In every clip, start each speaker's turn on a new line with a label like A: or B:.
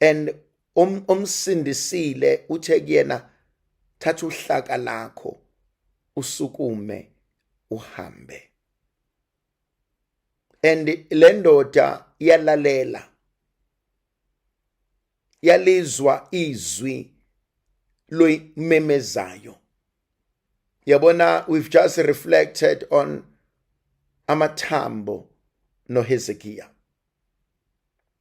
A: and um, omsindisile uthe kuyena thatha uhlaka lakho usukume uhambe and le ndoda yalalela yalizwa izwi loyimemezayo yabona we've just reflected on amathambo noHezekiya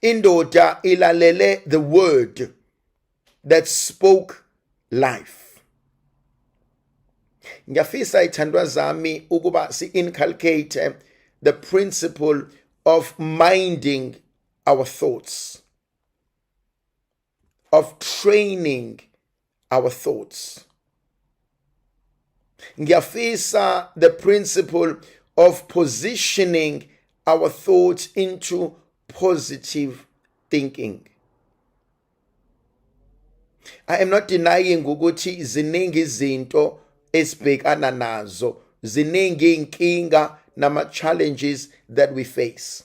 A: indoda ilalele the word that spoke life ngiyafisa ithandwa zami ukuba si-inculcate the principle of minding our thoughts of training our thoughts ngiyafisa the principle of positioning our thoughts into positive thinking i am not denying ukuthi ziningi izinto esibhekana nazo ziningi inkinga nama challenges that we face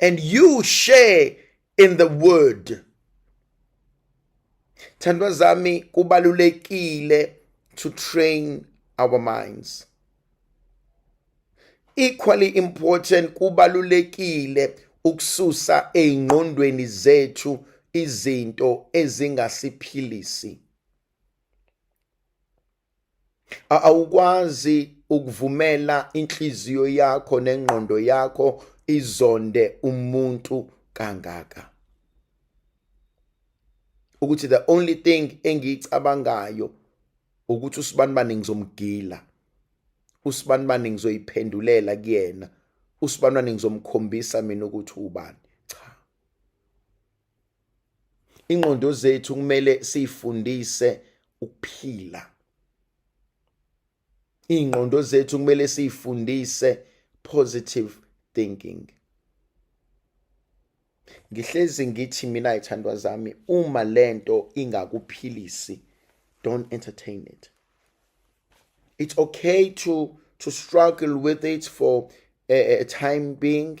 A: and you share in the word thandwa zami kubalulekile to train our minds equally important kubalulekile ukususa eingqondweni zethu izinto ezingasiphilisi awukwazi ukuvumela inhliziyo yakho nengqondo yakho izonde umuntu kangaka ukuthi the only thing engiyicabangayo ukuthi usibani bani ngizomgila usibani bani ngizoyiphendulela kuyena usibani bani ngizomkhombisa mina ukuthi ubani cha ingqondo zethu kumele siyifundise ukuphila ingqondo zethu kumele siyifundise positive thinking ngihlezi ngithi mina ithandwa zami uma lento ingakuphilisi don't entertain it it's okay to to struggle with it for a, a time being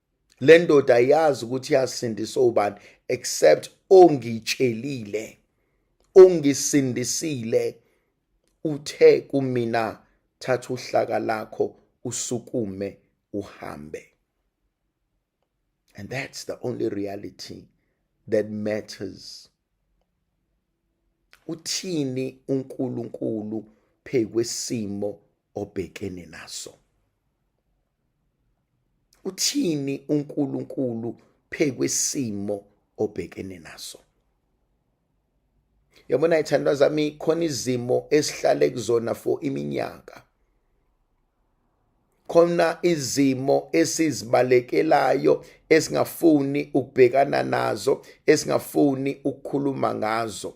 A: le ndoda ayazi ukuthi yasindiswa ubani except ongitshelile ongisindisile uthe kumina thatha uhlaka lakho usukume uhambe and that's the only reality that matters uthini uNkulunkulu phekwesimo obhekene naso uthini uNkulunkulu phekwesimo obhekene naso yabona ithandwa zami khona izimo esihlale kuzona for iminyaka khona izimo esizibalekelayo esingafuni ukubhekana nazo esingafuni ukukhuluma ngazo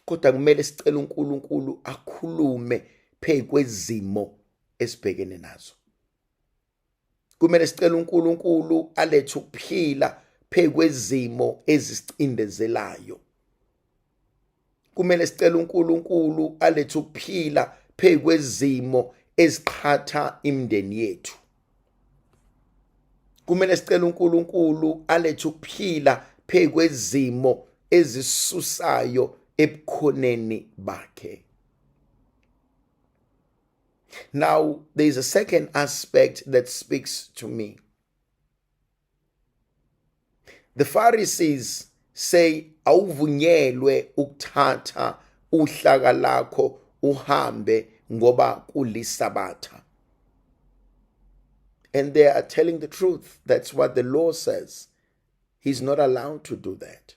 A: kodwa kumele sicele uNkulunkulu akhulume phezu kwezimo esibhekene nazo kumele sicele uNkulunkulu alethe ukuphila phezu kwezimo ezisicindezelayo kumele sicele uNkulunkulu alethe ukuphila phezu kwezimo eziqhatha imindeni yethu kumele sicele uNkulunkulu alethe ukuphila phekwezimo ezisusayo ebukhoneni bakhe now there is a second aspect that speaks to me The Pharisees say awuvunyelwe ukuthatha uhlaka lakho uhambe ngoba kulisabatha. And they are telling the truth. That's what the law says. He's not allowed to do that.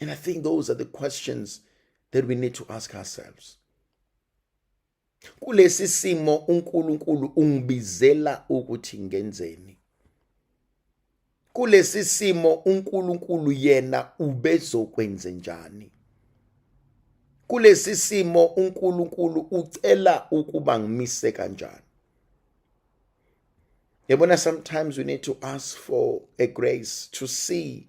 A: And I think those are the questions that we need to ask ourselves. Kulesi simo uNkulunkulu ungibizela ukuthi ngenzeni? Kulesi simo uNkulunkulu yena ubezokwenze njani? Kulesi simo uNkulunkulu ucela ukuba ngimise kanjani? Yabona sometimes we need to ask for a grace to see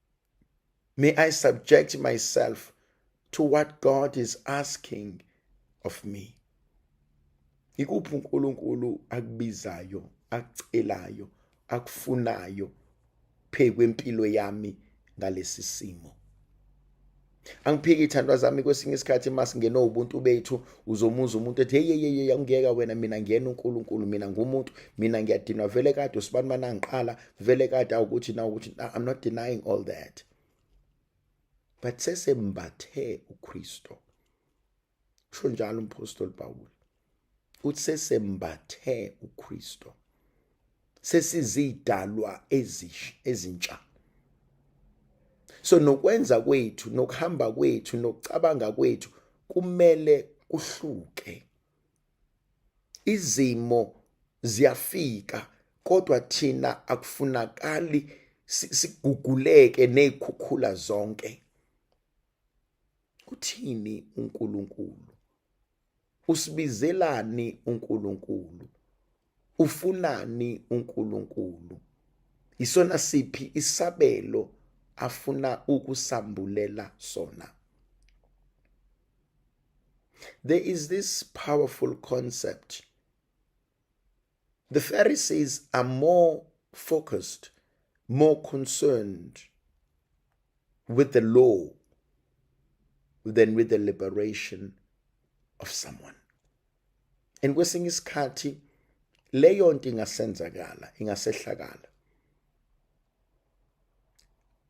A: May I subject myself to what God is asking of me. Ikuphi uNkulunkulu akubizayo, akucelayo, akufunayo phekwempilo yami ngalesi simo. angiphiki ithandwa zami kwesinye isikhathi uma singene ubuntu bethu uzomuza umuntu ethi hey hey hey angiyeka wena mina ngiyena uNkulunkulu mina ngumuntu mina ngiyadinwa vele kade usibani mana ngiqala vele kade awukuthi na ukuthi i'm not denying all that but sesembathe uKristo usho njalo umphostoli Pawulu uthi sesembathe uKristu sesizidalwa ezisha ezintsha so nokwenza kwethu nokuhamba kwethu nokucabanga kwethu kumele kuhluke izimo ziyafika kodwa thina akufunakali siguguleke nezikhukhula zonke Uthini uNkulunkulu? Usibizelani uNkulunkulu? Ufunani uNkulunkulu? Isona siphi isabelo afuna ukusambulela sona? There is this powerful concept The Pharisees are more focused, more concerned with the law than with the liberation of someone. And kwesinye isikhathi leyo nto ingasenzakala, ingasehlakala.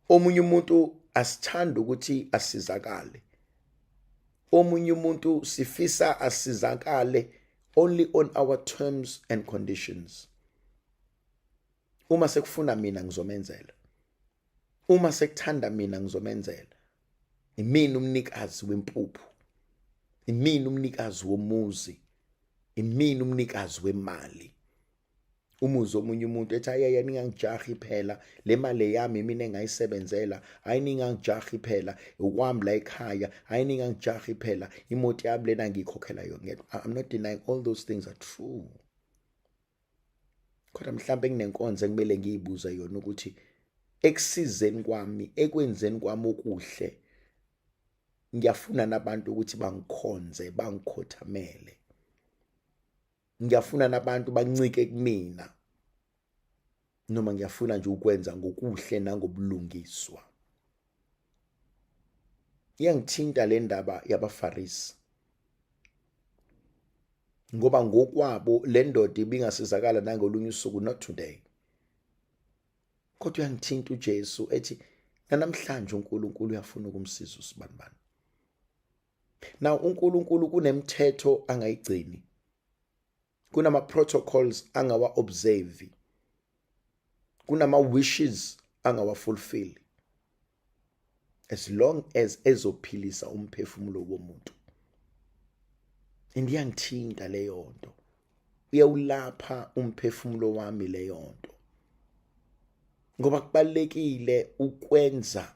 A: omunye umuntu asithanda ukuthi asizakale omunye umuntu sifisa asizakale only on our terms and conditions uma sekufuna mina ngizomenzela uma sekuthanda mina ngizomenzela imini umnikazi wempuphu imini umnikazi womuzi imini umnikazi wemali umuzwe omunye umuntu ethi ayaya ningangijahi phela le mali eyami mina engayisebenzela hayi ningangijahi phela ukwami la ekhaya hayi ningangijahi phela imoto yami lena ngiyikhokhela yona i'm not denying all those things are true kodwa mhlawumbe nginenkonzo ekumele ngiyibuze yona ukuthi ekusizeni kwami ekwenzeni kwami okuhle ngiyafuna nabantu ukuthi bangikhonze bangikhothamele ngiyafuna nabantu bancike kumina noma ngiyafuna nje ukwenza ngokuhle nangobulungiswa iyangithinta le ndaba yabafarisi ngoba ngokwabo le ndoda ibingasizakala nangolunye usuku not today kodwa uyangithinta uJesu ethi nanamhlanje uNkulunkulu uyafuna ukumsiza usibanibani now uNkulunkulu kunemthetho angayigcini kunama protocols angawa observe kunama wishes angawa fulfill as long as ezophilisa umphefumulo womuntu and iyangithinta leyo nto uyawulapha umphefumulo wami leyo nto ngoba kubalekile ukwenza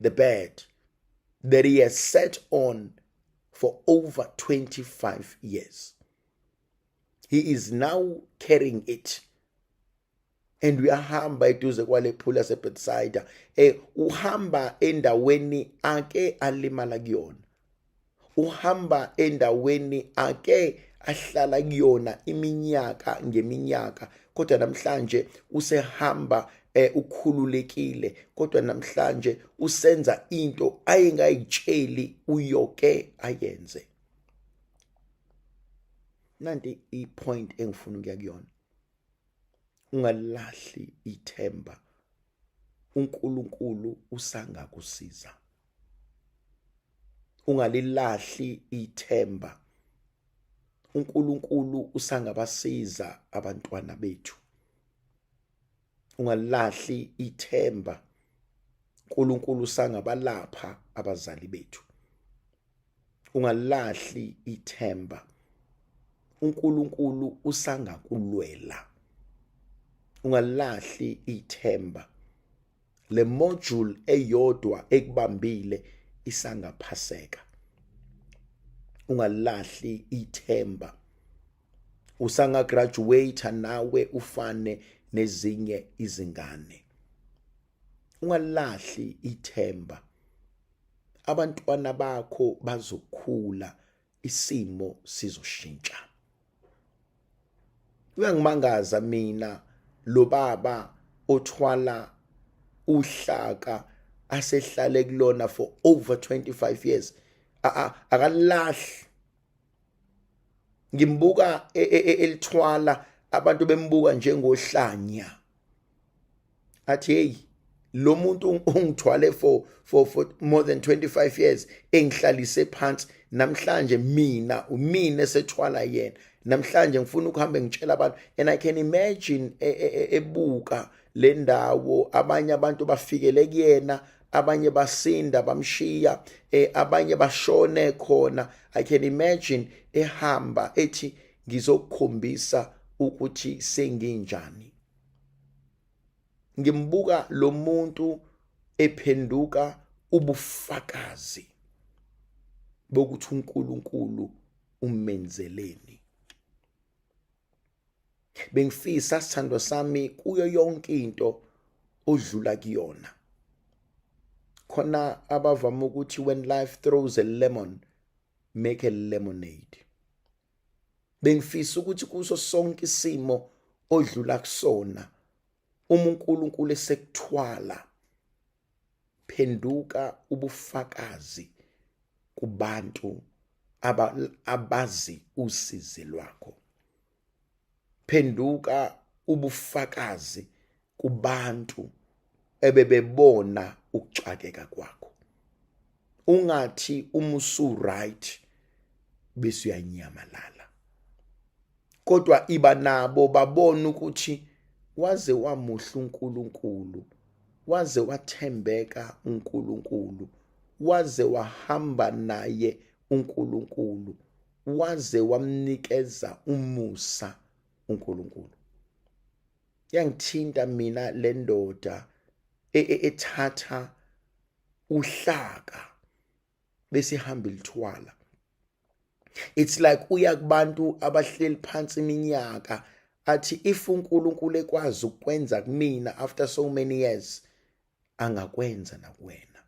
A: the bed that he has sat on for over 25 years. He is now carrying it. and uyahamba eduze kwale phula sebethsaida eh uhamba endaweni ake alimala kuyona uhamba endaweni ake ahlala kuyona iminyaka ngeminyaka kodwa namhlanje usehamba eh ukhululekile kodwa namhlanje usenza into ayengayitsheli uyoke ayenze nanti ipoint engifuna ukuya kuyona ungalahli ithemba uNkulunkulu usangakusiza ungalilahli ithemba uNkulunkulu usangabasiza abantwana bethu ungalilahli ithemba uNkulunkulu usangabalapha abazali bethu ungalilahli ithemba uNkulunkulu usangakulwela ungalilahli ithemba le module eyodwa ekubambile isangaphaseka ungalahli ithemba usanga graduate nawe ufane nezinye izingane ungalahli ithemba abantwana bakho bazokhula isimo sizoshintsha uyangimangaza mina lo baba othwala uhlaka asehlale kulona for over 25 years akalahli ngimbuka e, e, e, elithwala abantu bembuka njengohlanya athi hey lo muntu ungithwale for for for more than 25 years engihlalise phansi namhlanje mina umina esethwala yena namhlanje ngifuna ukuhamba ngitshela abantu and i can imagine e, e, e, ebuka le ndawo abanye abantu bafikele kuyena abanye basinda bamshiya eh, abanye bashone khona i can imagine ehamba ethi ngizokukhombisa ukuthi senginjani ngimbuka lo muntu ephenduka ubufakazi bokuthi uNkulunkulu umenzeleni bengifisa sithandwa sami kuyo yonke into odlula kuyona khona abavama ukuthi when life throws a lemon make a lemonade bengifisa ukuthi kuso sonke isimo odlula kusona uma uNkulunkulu esekuthwala phenduka ubufakazi kubantu abazi usizi lwakho phenduka ubufakazi kubantu ebebebona ukuxakeka kwakho ungathi uma usu right bese uyanyamalala kodwa iba nabo babona ukuthi waze wamuhle uNkulunkulu waze wathembeka uNkulunkulu waze wahamba naye uNkulunkulu waze wamnikeza umusa uNkulunkulu yangithinta mina le ndoda e, e, ethatha uhlaka bese ihamba ilithwala it's like uya kubantu abahleli phansi iminyaka athi if uNkulunkulu ekwazi ukwenza kumina after so many years angakwenza nakuwena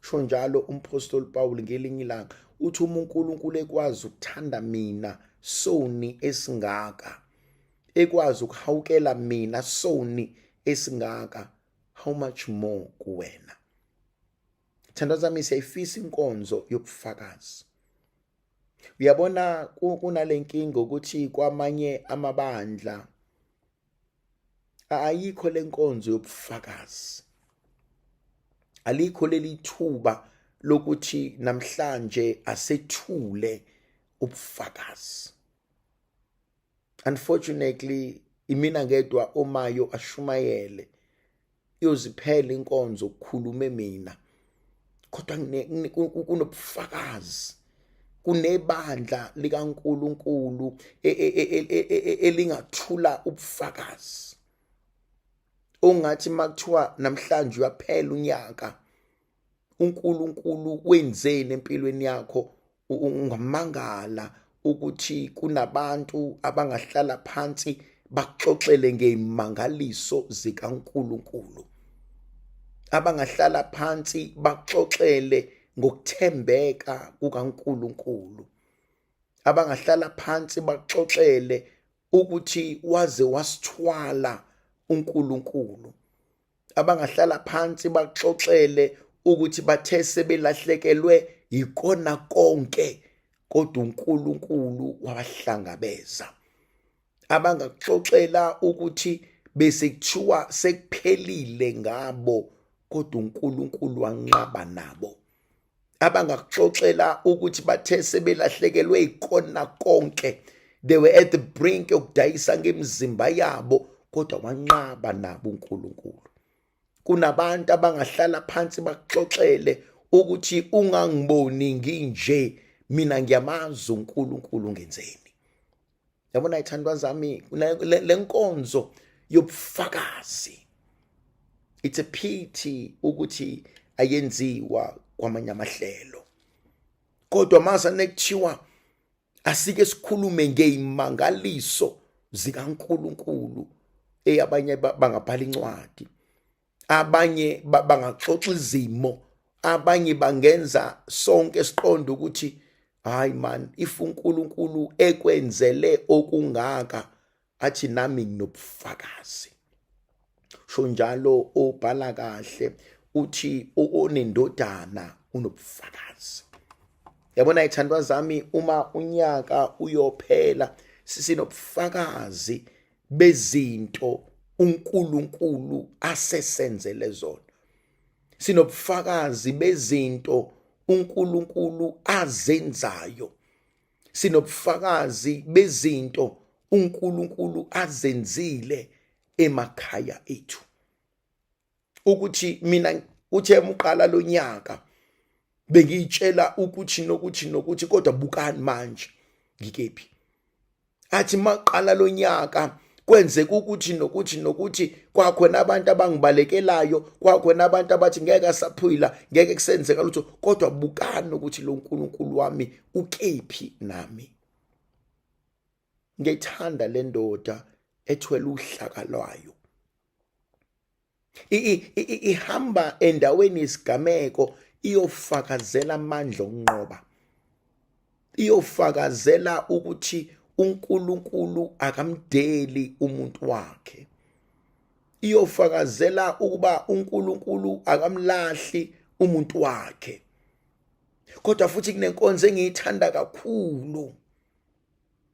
A: sho njalo umphostoli Paul ngelinye ilanga uthi uma uNkulunkulu ekwazi ukuthanda mina soni esingaka ekwazi ukuhawukela mina soni esingaka how much more kuwena thanda zami siyayifisa inkonzo yobufakazi uyabona kunalenkinga ukuthi kwamanye amabandla ayikho lenkonzo yobufakazi alikho leli thuba lokuthi namhlanje asethule ubufakazi unfortunately imina ngedwa omayo ashumayele yoziphela inkonzo ukukhulume mina kodwa kunobufakazi kunebandla likaNkuluNkulu e, e, e, elingathula ubufakazi ongathi makuthiwa namhlanje uyaphela unyaka uNkulunkulu wenzeni empilweni yakho ungamangala ukuthi kunabantu abangahlala phansi baxoxele ngezimangaliso zikaNkulunkulu abangahlala phansi baxoxele ngokuthembeka kukaNkulunkulu abangahlala phansi baxoxele ukuthi waze wasithwala uNkulunkulu abangahlala phansi baxoxele ukuthi bathe sebelahlekelwe yikona konke kodwa uNkulunkulu wabahlangabeza abangaxoxela ukuthi bese kuthiwa sekuphelile ngabo kodwa uNkulunkulu wanqaba nabo abangakuxoxela ukuthi bathe sebelahlekelwe ikona konke they were at the brink yokudayisa ngemizimba yabo kodwa wanqaba nabo uNkulunkulu kunabantu abangahlala phansi bakuxoxele ukuthi ungangiboni nginje mina ngiyamazi uNkulunkulu ngenzeni yabona ithandwa zami le nkonzo yobufakazi it's a pity ukuthi ayenziwa kwamanye amahlelo kodwa masa nekuthiwa asike sikhulume ngeimangaliso zikaNkuluNkulu eyabanye bangabhala incwadi abanye bangaxoxa izimo abanye bangenza sonke siqonde ukuthi hayi man if uNkulunkulu ekwenzele okungaka athi nami nginobufakazi sho njalo obhala kahle uthi onendodana unobufakazi yabona ithandwa zami uma unyaka uyophela sisinobufakazi bezinto uNkulunkulu asesenzele zona sinobufakazi bezinto uNkulunkulu azenzayo sinobufakazi bezinto uNkulunkulu azenzile emakhaya ethu ukuthi mina uthe uqala lonyaka bengiyitshela ukuthi nokuthi nokuthi kodwa bukani manje ngikephi athi maqala lonyaka kwenzeka ukuthi nokuthi nokuthi kwakhona abantu abangibalekelayo kwakhona abantu abathi ngeke asaphila ngeke kusenzeka lutho kodwa bukani ukuthi lo nkulunkulu wami ukephi nami ngethanda lendoda ethwele uhlaka lwayo ihamba endaweni yesigameko iyofakazela amandla okunqoba iyofakazela ukuthi uNkulunkulu akamdeli umuntu wakhe iyofakazela ukuba uNkulunkulu akamlahli umuntu wakhe kodwa futhi kunenkonzo engiyithanda kakhulu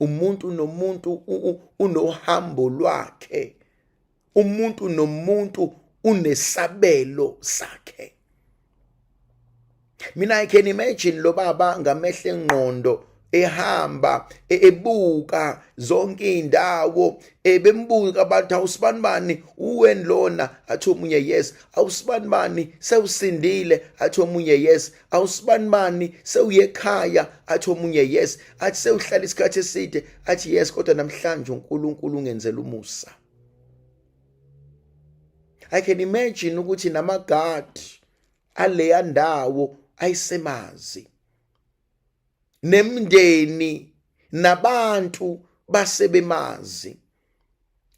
A: umuntu nomuntu unohambo lwakhe umuntu nomuntu unesabelo sakhe mina i can imagine lo baba ngamehla engqondo ehamba e-, ebuka zonke indawo ebembuka abantu awusibani bani uwen lona athi omunye yes awusibani bani sewusindile athi omunye yes awusibanibani sewuye ekhaya athi omunye yes athi sewuhlala isikhathi eside athi yes kodwa namhlanje uNkulunkulu ungenzela umusa i can imagine ukuthi namagard aleya ndawo ayisemazi nemndeni nabantu basebemazi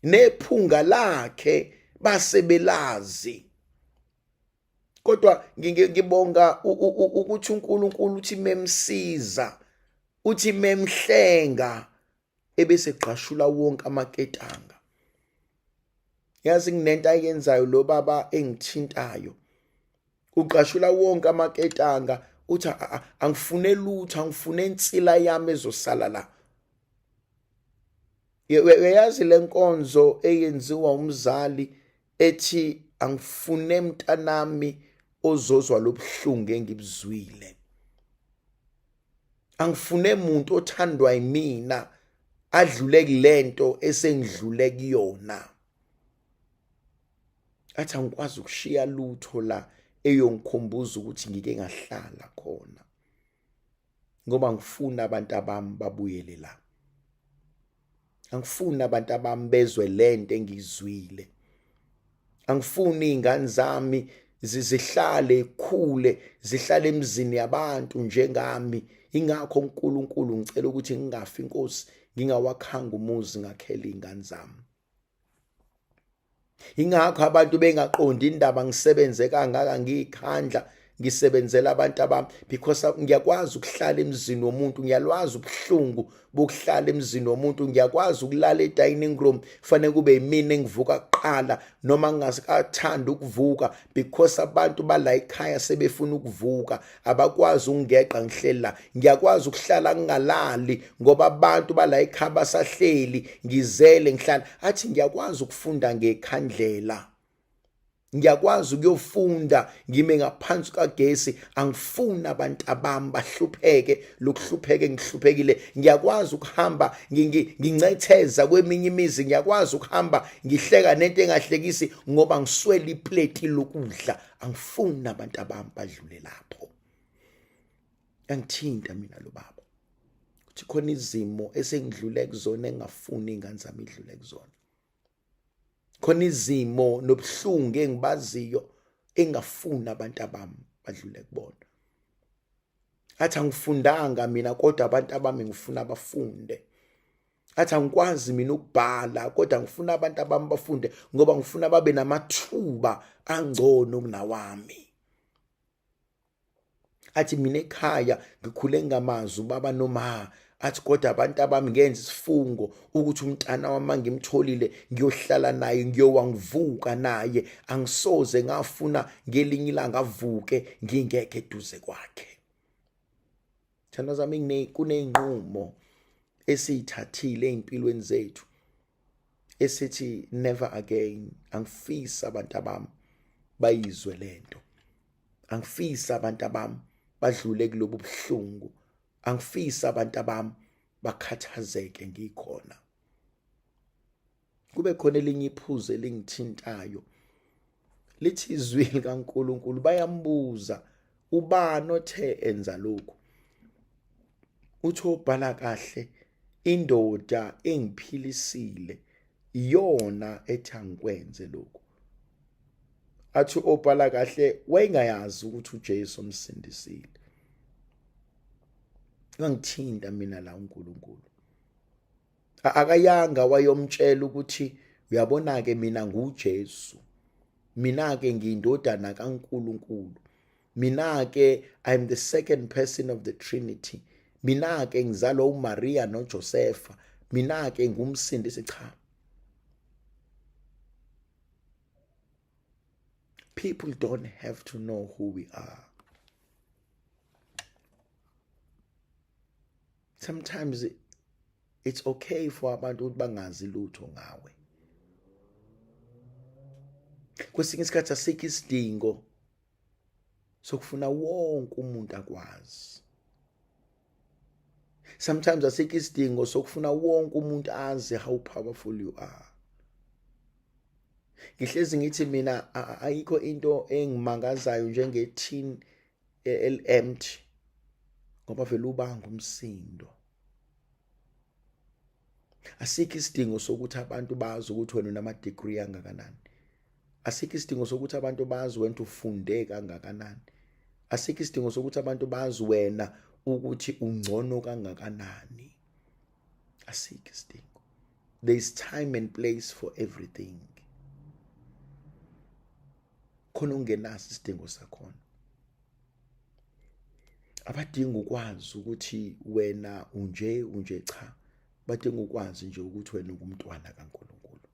A: nephunga lakhe basebelazi kodwa ngibonga ukuthi uNkulunkulu uthi memsiza uthi memhlenga ebese gqashula wonke amaketanga yazi nginento ayenzayo lo baba engithintayo ugqashula wonke amaketanga uthi angifune lutho angifune insila yami ezosala la uyayazi lenkonzo eyenziwa umzali ethi angifune mntanami ozozwa lobuhlungu engibuzwile angifune muntu othandwa yimina adlule kulento esengidlule kuyona athi angikwazi ukushiya lutho la eyongikhumbuza ukuthi ngike ngahlala khona ngoba ngifuna abantu abami babuyele la angifuni abantu abami bezwe lento engizwile angifuni izingane zami zizihlale ikhule zihlale emzini yabantu njengami ingakho uNkulunkulu ngicela ukuthi ngingafi inkosi ngingawakhanga umuzi ngakhela izingane zami ingakho abantu bengaqondi indaba ngisebenze kangaka ngiyikhandla ngisebenzela abantu abami because ngiyakwazi ukuhlala emzini womuntu ngiyalwazi ubuhlungu bokuhlala emzini womuntu ngiyakwazi ukulala e-dining room kufanele kube yimina engivuka kuqala noma ngingakathandi ukuvuka because abantu bala ekhaya sebefuna ukuvuka abakwazi ukungeqa ngihleli la ngiyakwazi ukuhlala ngingalali ngoba abantu bala ekhaya basahleli ngizele ngihlala athi ngiyakwazi ukufunda ngekhandlela ngiyakwazi ukuyofunda ngime ngaphansi kagesi angifuni abantu abami bahlupheke lokuhlupheke ngihluphekile ngiyakwazi ukuhamba ngincetheza kweminye imizi ngiyakwazi ukuhamba ngihleka nento engahlekisi ngoba ngiswele ipleti lokudla angifuni abantu abami badlule lapho angithinta mina lo baba ukuthi khona izimo esengidlule kuzona engafuni ingane zami idlule kuzona khona izimo nobuhlungu engibaziyo engafuni abantu abami badlule kubona athi angifundanga mina kodwa abantu abami ngifuna bafunde athi angikwazi mina ukubhala kodwa ngifuna abantu abami bafunde ngoba ngifuna babe namathuba angcono kunawami athi mina ekhaya ngikhule ngamazi ubaba nomama athi kodwa abantu abami ngenza isifungo ukuthi umntana wami ngimtholile ngiyohlala naye ngiyowa ngivuka naye angisoze ngafuna ngelinye ilanga avuke ngingekho eduze kwakhe thanda zami kuney'nqumo esiyithathile ey'mpilweni zethu esithi never again angifisi abantu abami bayizwe lento angifisi abantu abami badlule kulobu buhlungu angifisi abantu abami bakhathazeke ngikhona kube khona elinye iphuzu elingithintayo lithi izwi likaNkuluNkulu bayambuza ubani othe enza lokhu uthi obhala kahle indoda engiphilisile iyona ethi angikwenze lokhu athi obhala kahle wayengayazi ukuthi uJesu omsindisile ngangithinta mina la uNkulunkulu akayanga wayomtshela ukuthi uyabona ke mina nguJesu mina ke ngiyindodana kaNkulunkulu mina ke i'm the second person of the trinity mina ke ngizalwa uMaria noJosefa mina ke ngumsindisi cha People don't have to know who we are. Sometimes it's okay for abantu ukuthi bangazi lutho ngawe. Kwesinye isikhathi asikho isidingo sokufuna wonke umuntu akwazi. sometimes asikho isidingo sokufuna wonke umuntu azi how powerful you are ngihlezi ngithi mina ayikho into engimangazayo njenge tin elempty ngoba vele ubanga umsindo asikho isidingo sokuthi abantu bazi ukuthi wena unama-degree angakanani asikho isidingo sokuthi abantu bazi wena ufunde kangakanani asikho isidingo sokuthi abantu bazi wena ukuthi ungcono kangakanani asikho isidingo there is time and place for everything khona ungenaso isidingo sakhona abadinga ukwazi ukuthi wena unje unje cha badinga ukwazi nje ukuthi wena ungumntwana kaNkuluNkulu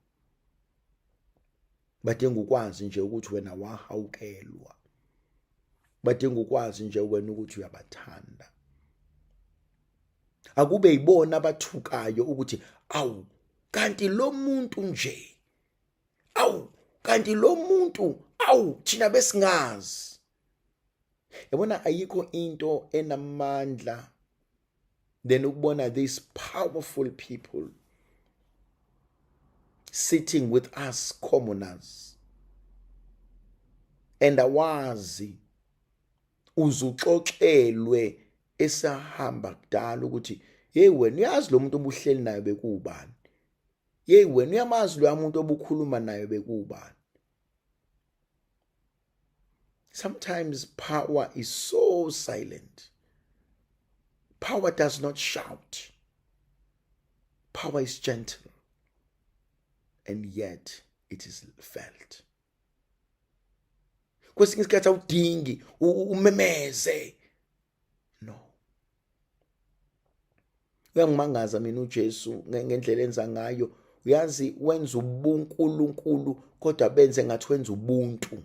A: badinga ukwazi nje ukuthi wena wahawukelwa badinga ukwazi nje wena ukuthi uyabathanda akube yibona abathukayo ukuthi awu kanti lo muntu nje awu kanti lo muntu awu thina besingazi yabona ayikho into enamandla then ukubona these powerful people sitting with us commoners and awazi uzuxoxelwe esahamba kudala ukuthi hey wena uyazi lo muntu obuhleli naye bekuwubani yeyi wena uyamazi loya muntu obukhuluma nayo bekubani sometimes power is so silent power does not shout power is gentle and yet it is felt kwesinye isikhathi awudingi umemeze no uyangimangaza mina uJesu ngendlela enza ngayo uyazi wenza ubunkulunkulu kodwa benze ngathi wenza ubuntu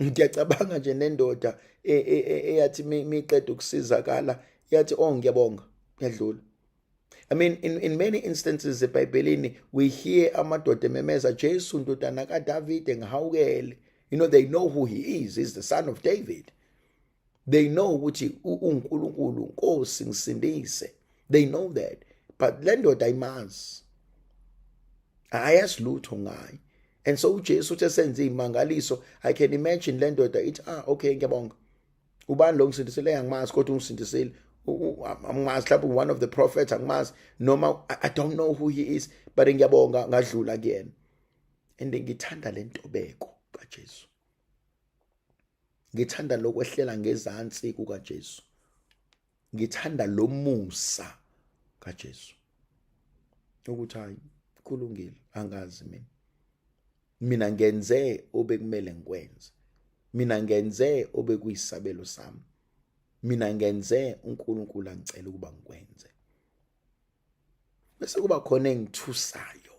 A: ngiyacabanga nje nendoda e, e, e, eyathi miqeda ukusizakala yathi oh ngiyabonga yadlula I mean, in, in many instances ebhayibhelini we hear amadoda ememeza jesu ndodana kadavide ngihawukele you know they know who he is he's the son of david they know ukuthi unkulunkulu nkosi ngisindise they know that but le ndoda ayimazi ayazi lutho ngayo and so ujesu uthe senze iy'mangaliso i can imagine le ndoda ithi ah okay ngiyabonga ubani lo ngisindisile angimazi kodwa ungisindisile angimazi mhlawumbe one of the prophets angimazi noma i don't know who he is but ngiyabonga ngadlula kuyena and ngithanda le ntobeko kaJesu ngithanda lokwehlela ngezansi kukaJesu ngithanda lo musa kaJesu ukuthi hayi kulungile angazi mina mina ngenze obekumele ngikwenze mina ngenze obekuyisabelo sami mina ngenze uNkulunkulu angicela ukuba ngikwenze bese kuba khona engithusayo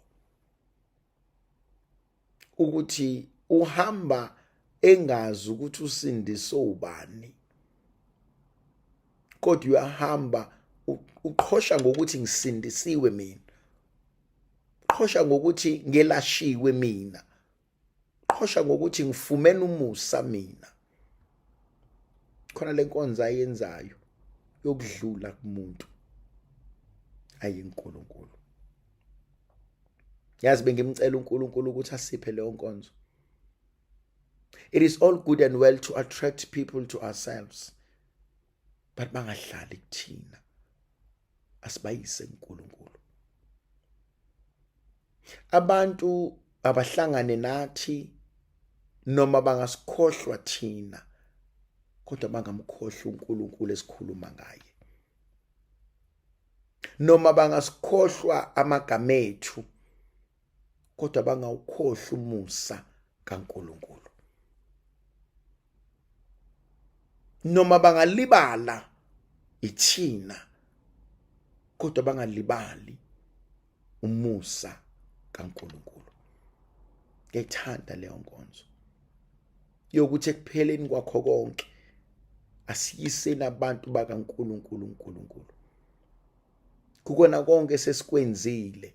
A: ukuthi uhamba engazi ukuthi usindise ubani kodwa uyahamba uqhosha ngokuthi ngisindisiwe mina qhosha ngokuthi ngelashiwe mina qhosha ngokuthi ngifumene umusa mina khona lenkonzo ayenzayo yokudlula kumuntu ayinkulunkulu yazi bengimcela uNkulunkulu ukuthi asiphe leyo nkonzo it is all good and well to attract people to ourselves but bangahlali kuthina asibayise uNkulunkulu abantu abahlangane nathi noma bangasikhohlwa thina kodwa bangamkhohlwa uNkulunkulu esikhuluma ngaye noma bangasikhohlwa amagama ethu kodwa bangawukhohlwa umusa kaNkuluNkulu noma bangalibala ithina kodwa bangalibali umusa kaNkuluNkulu ngethanda leyo nkonzo yokuthi ekupheleni kwakho konke asiyiseni abantu bakaNkuluNkulu uNkulunkulu kukona konke sesikwenzile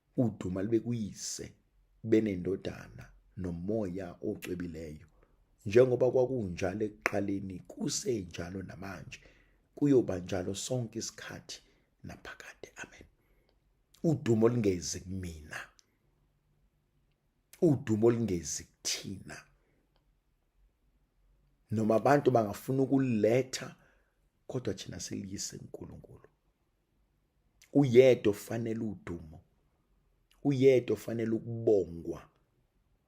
A: Uduma libe kuyise benendodana nomoya ocwebileyo njengoba kwakunjalo ekuqaleni kusenjalo namanje kuyoba njalo sonke isikhathi naphakade amen udumo lingezi kumina udumo lingezi kuthina noma abantu bangafuna ukuletha kodwa thina siliyise uNkulunkulu uyedwa ofanele udumo uyedwa ofanele ukubongwa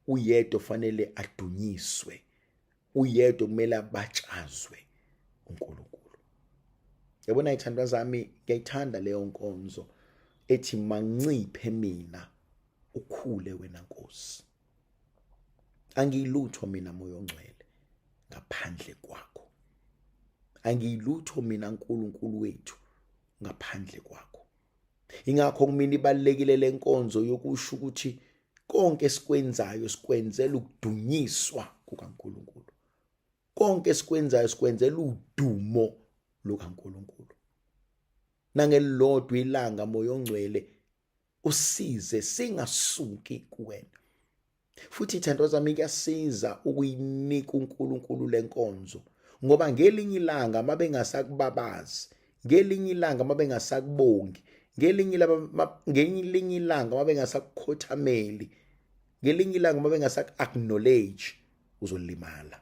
A: uyedwa ofanele adunyiswe uyedwa kumele abatshazwe uNkulunkulu yabona ithandwa zami ngiyayithanda leyo nkonzo ethi manciphe mina ukhule wena Nkosi angiyilutho mina moya ongcwele ngaphandle kwakho angiyilutho mina nkulunkulu wethu ngaphandle kwakho ingakho kumina ibalekile lenkonzo yokusho ukuthi konke esikwenzayo sikwenzela ukudunyiswa kukaNkuluNkulu konke esikwenzayo sikwenzela udumo lukaNkuluNkulu nangelilodwa ilanga moya ongcwele usize singasuki kuwena futhi ithando zami kuyasiza ukuyinika uNkulunkulu lenkonzo ngoba ngelinye ilanga mabengasakubabazi ngelinye ilanga mabengasakubongi ngelinye ngelinye ilanga mabengasakukhothameli ngelinye ilanga mabengasaku-acknowledge uzolimala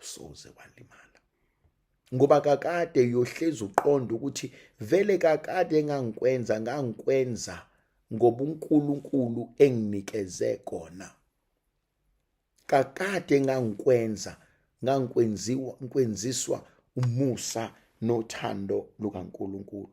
A: usoze walimala ngoba kakade uyohlezi uqonda ukuthi vele kakade engangikwenza ngangikwenza ngoba uNkulunkulu enginikeze kona kakade engangikwenza ngangikwenziwa ngikwenziswa umusa nothando lukaNkulunkulu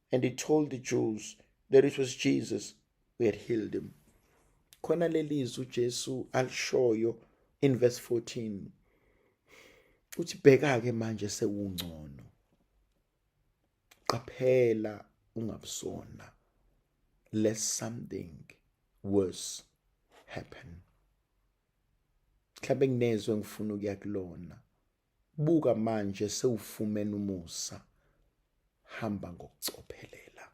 A: and he told the Jews that it was Jesus who had healed him. Khona lelizwi uJesu alishoyo in verse 14. Uthi bheka ke manje sewungcono. Qaphela ungabusona lest something worse happen. Mhlawumbe nginezwe ngifuna ukuya kulona. Buka manje sewufumene umusa. Hamba ngokucophelela.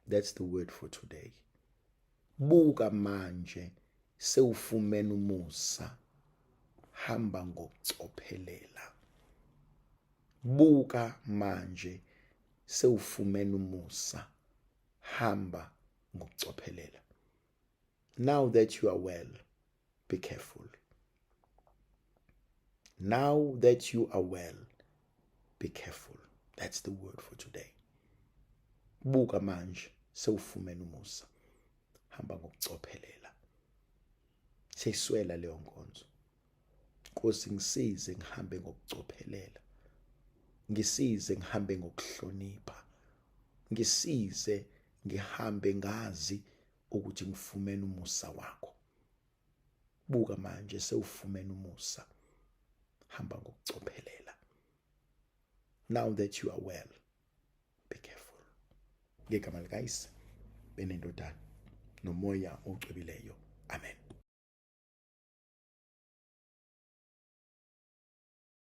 A: That's the word for today. Buka manje sewufumene umusa. Hamba ngokucophelela. Buka manje sewufumene umusa. Hamba ngokucophelela. Now that you are well, be careful now that you are well be careful that's the word for today buka manje sewufumene umusa hamba ngokucophelela seyiswela leyo nkonzo Nkosi ngisize ngihambe ngokucophelela ngisize ngihambe ngokuhlonipha ngisize ngihambe ngazi ukuthi ngifumene umusa wakho buka manje sewufumene umusa hamba ngokucophelela now that you are well be careful ngegama likayise benendodana nomoya ocwebileyo amen